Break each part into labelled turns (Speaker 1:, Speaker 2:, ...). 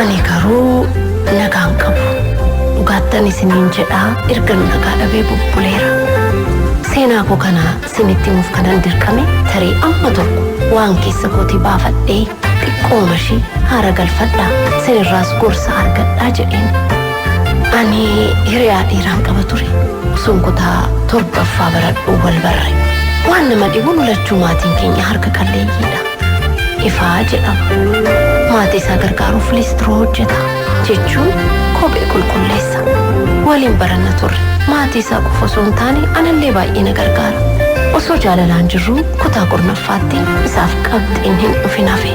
Speaker 1: Ani garuu nagaan qabu. Dhugaattan isiniin jedhaa erga nu nagaa dhabee bubbuleera. Seenaa koo kana isinitti himuuf kanan dirqame tarii amma tokko waan keessa kootii baafadhee xiqqooma ishii haara galfadhaa isinirraas gorsa argadhaa jedheen. Ani hiriyaa dhiiraan qaba ture. Sun kutaa torbaffaa baradhuu wal barre. Waan nama dhibu nu lachuu maatiin keenya harka qalleeyyiidha. Ifaa jedhama. Maatii isaa gargaaruuf liistiroo hojjeta. Jechuun kophee qulqulleessa. Waliin baranna turre. Maatii isaa qofa osoo hin taane anallee baay'ee na gargaara. Osoo jaalalaan jirruu kutaa kurnaffaatti isaaf qabxiin hin dhufin hafe.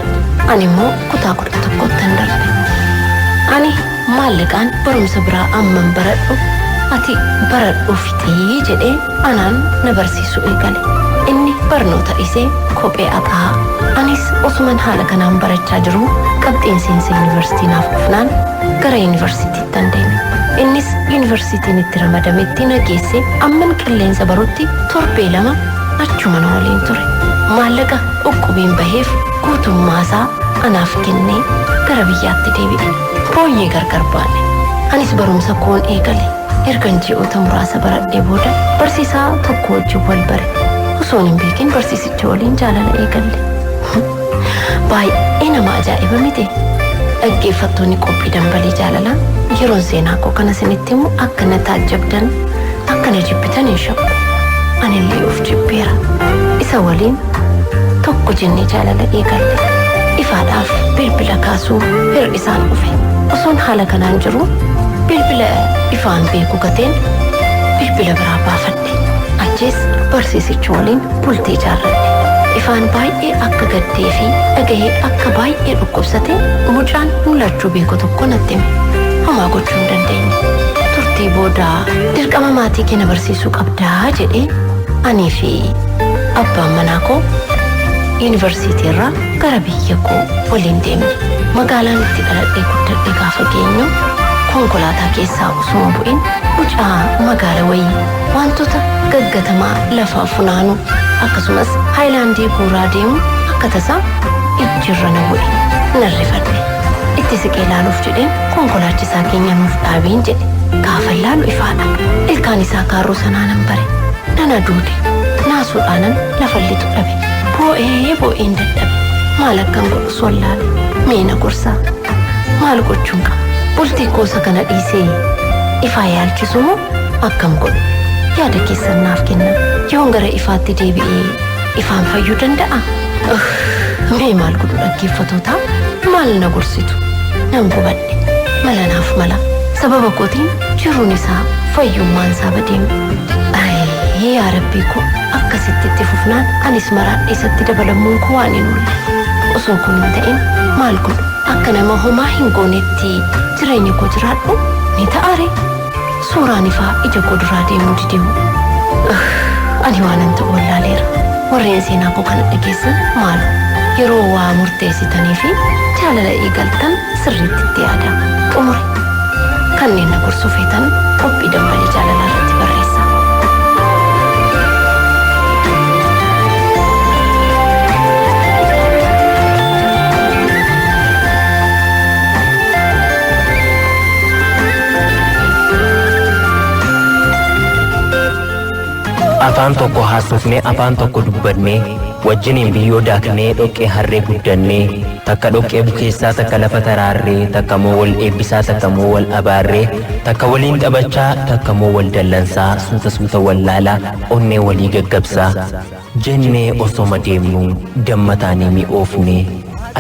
Speaker 1: Ani immoo kutaa kudha tokkottan darbe. Ani maallaqaan barumsa biraa amman baradhu ati baradhuu fixii jedhee anaan na barsiisuu eegale. Inni barnoota dhiisee kophee aqaa. Anis osuman haala kanaan barachaa jiruu qabxiin seensa yunivarsiitii naaf dhufnaan gara yunivarsiitiittan deeme. Innis yunivarsiitiin itti ramadametti na geesse amman qilleensa barutti torbee lama achuma na waliin ture. Maallaqa uqqubiin baheef guutummaasaa anaaf kennee gara biyyaatti deebi'e. Booyyee gargar baane. Anis barumsa koon eegale. Ergan ji'oota muraasa baradhee booda barsiisaa tokko wajjin wal bare. Osoon hin beekin barsiisicha waliin jaalala eegalle. Baay'ee nama ajaa'iba miti. Dhaggeeffattoonni qophii dambalii jaalalaa yeroon seenaa koo kana isinitti himu akka na taajjabdan akka na jibbitan hin shakku. Anillee of jibbeera. Isa waliin tokko jennee jaalala eegalle. Ifaadhaaf bilbila kaasuu hir'ise. isaan dhufe. Osoon haala kanaan jiruu bilbila ifaan beeku gateen bilbila biraa baafadhe. Achiis barsiisicha waliin bultii ijaarradhe. Ifaan baay'ee akka gaddee fi dhagahee akka baay'ee dhukkubsate mucaan mul'achuu beeku tokko natti hime. Homaa gochuu hin dandeenye. Turtii booda dirqama maatii kee na barsiisuu qabdaa jedhee anii fi abbaan manaa koo yuunivarsiitii irraa Gara biyya koo waliin deemne. Magaalaan itti dhaladhee guddadhe gaafa geenyu konkolaataa keessaa osoo hin bu'in mucaa magaala wayii waantota gaggatamaa lafaa funaanu akkasumas haayilaandii guuraa deemu akka tasaa ijji irra na bu'e. Nan rifadhe. Itti siqee laaluuf jedheen konkolaachisaa keenya nuuf dhaabiin jedhe. Gaafan laalu ifaadha. Ilkaan isaa kaarruu sanaa nan bare. Nan aduude. Naasuudhaanan lafan lixu dhabe. Boo'ee boo'een dadhabe. Maal akkan godhus wallaale. Mee na gorsaa. Maal gochuun qaba? Bultii koosa kana dhiisee ifaa yaalchisu moo akkam godhu? Yaada keessan naaf kenna. Yoon gara ifaatti deebi'ee ifaan fayyuu danda'a? Ugh, Mee maal godhu dhaggeeffatootaa? Maal na gorsitu? Nan gubadhe. Mala naaf mala. Sababa kootiin jiruun isaa fayyummaan isaa badeemu. Ayii yaa rabbii koo. Akkasitti itti fufnaan anis maraadhe isatti dabalammuun koo waan hin oolle. Osoo kun hin ta'in maal godhu? Akka nama homaa hin goonetti jireenya koo jiraadhu ni ta'a ree? Suuraan ifaa ija koo duraa deemuu didee hoo? Ugh, ani waanan ta'u wallaaleera. Warreen seenaa koo kana dhageessan maaloo yeroo waa murteessitanii fi jaalala eegaltan sirriitti itti yaadaa. Xumuri. Kanneen na gorsuu feetan qophii dambalii jaalalaa irratti barreessaa.
Speaker 2: Afaan tokko haasofnee afaan tokko dubbannee wajjiniin biyyoo daaknee dhoqqee harree guddannee Takka dhoqqee bukeessaa takka lafa taraarree takka moo wal eebbisaa takka moo wal abaarree takka waliin taphachaa takka moo wal dallansaa suuta suuta wal laalaa onnee walii gaggabsaa jennee osoma deemnu damma taanee mi'oofne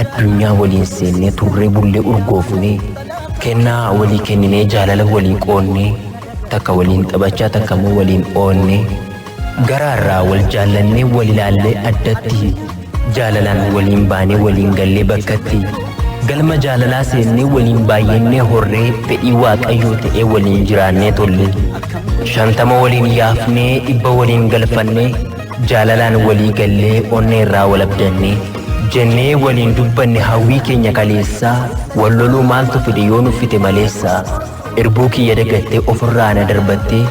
Speaker 2: addunyaa waliin seennee turree bullee urgoofne kennaa walii kenninee jaalala walii qoonnee takka waliin taphachaa takka moo waliin oonnee Garaarraa wal jaallannee wal ilaallee addatti jaalalaan waliin baanee waliin gallee bakkatti galma jaalalaa seennee waliin baay'annee horree fedhii waaqayyoo ta'ee waliin jiraannee tolle shantama waliin yaafnee dhibba waliin galfannee jaalalaan walii gallee onnee irraa wal abdannee jennee waliin dubbanne hawwii keenya kaleessaa wal loluu maaltu fide yoo nuffite maleessaa Irbuu kiyya dagattee ofirraa na darbattee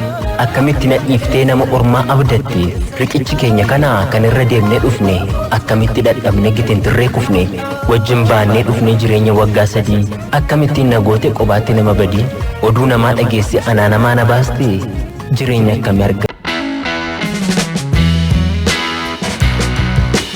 Speaker 2: akkamitti na dhiiftee nama ormaa abdatte riqichi keenya kana kan irra deemnee dhufne akkamitti dhadhabne gitintirree kufne wajjin baannee dhufnee jireenya waggaa sadii akkamittiin na goote qobaatti nama badii oduu namaa dhageesse anaa namaa na baaste jireenya akkami arga